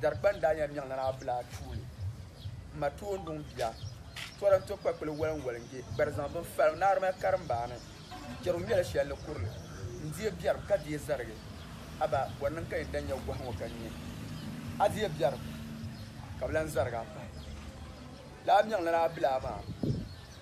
Darikpani daa nyɛla Miɛŋnana Abila Atuule ma Toonduŋ bia. Tɔra n-to kpakpili walinwalinge gbari zaŋ bini fali Naarima karimbaani. Jɛrigu ŋmɛli shɛli ni kurili n-deei biɛrim ka deei zarigi. Aba, bɔ n-niŋ ka yi ni daa nya gɔhi ŋɔ ka nya? A deei biɛrim ka bi lan zarig a pahi lala Miɛŋnana Abila maa?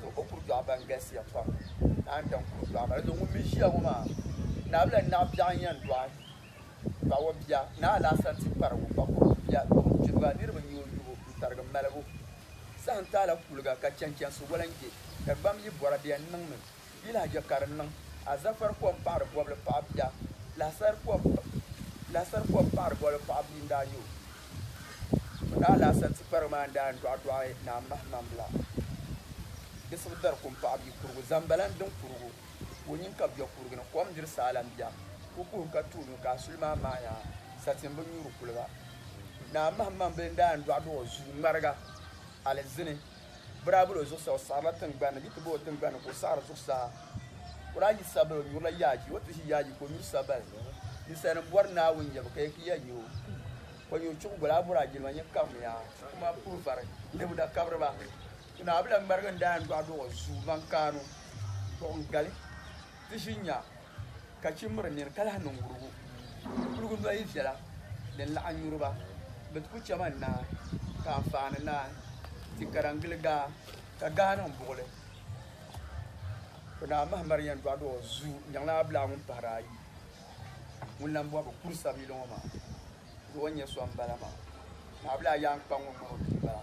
Zuɣu o kuri dɔɣu ban galisiya pam naan daŋ kuri dɔɣu maa dinzuɣu ŋun mi ʒiya ŋɔ maa naabila naɣ biɛɣu n-yɛn dɔɣi dɔɣu o bia ni alaasa nti kparigu ka kuri bia kɔŋ kpiriba niriba n-nyɛ o yubu n-tarigi malibu saha n-taala kuliga ka chɛnchɛnsi walanjɛ ka gbam yi bɔra bɛ yɛn niŋmi Di lahiʒiɛ ka di niŋ azafar kom paɣiri bɔbili paɣa bia, lahisar kom lahisar kom paɣiri bɔbili paɣa bia n-daa yo. O ni alaasar ti kparigu maa n-daa n-dɔɣi dɔɣi Naa Mahimambila. Di suhu dari kum paɣa bia kurigu, zambala n-diŋ kurigu, ka o nyin kabi bɛ kurigi ni. Kom n-diri saala m-bia, ku kuhim ka tuui nyu, ka a suli maa maai yaa, satin bi nyuuri kuliga. Naa Mahimambila n-daa n-dɔɣi dɔɣi o zuu ŋmariga alizini. biraabila o zuɣusaa, o saɣirila tiŋgbani ni, bɛ ti bo o tiŋgbani ni ka o saɣiri zuɣusaa. O daa yi sabali, o nyurila yaaji, o ti ʒi yaaji ka o nyuri sabali. Ninsalinim bɔri Naawuni yɛbu ka yɛ ki ya nyo. Kɔnyo chuɣu goli a bɔri a jilima nyɛ kabimiya. Kuma puri vari nebu da kabiri ba. Naawuni la ŋmarigi n-daa yɛn dɔɣi dɔɣi o zuumaŋ kaanu, dɔɣi n-gali ti ʒi nya. Ka chi miri nir ka lahi niŋ wurugu. Di kuligu noli viɛla din laɣim nyuri ba, bɛ ti ku chɛman naa, ka anfaani naan ti karan gili gaa, ka gaa niŋ buɣili. Bɛ naa Mahamar yɛn dɔɣid o zuu n-jaŋla Ablaa ŋun pahiri ayi, ŋun lan bɔhi bɛ kur sabili ŋɔ maa, Di o nyɛ so m-bala maa? Ni Ablaa yaan kpa ŋun ŋmani o pii bala?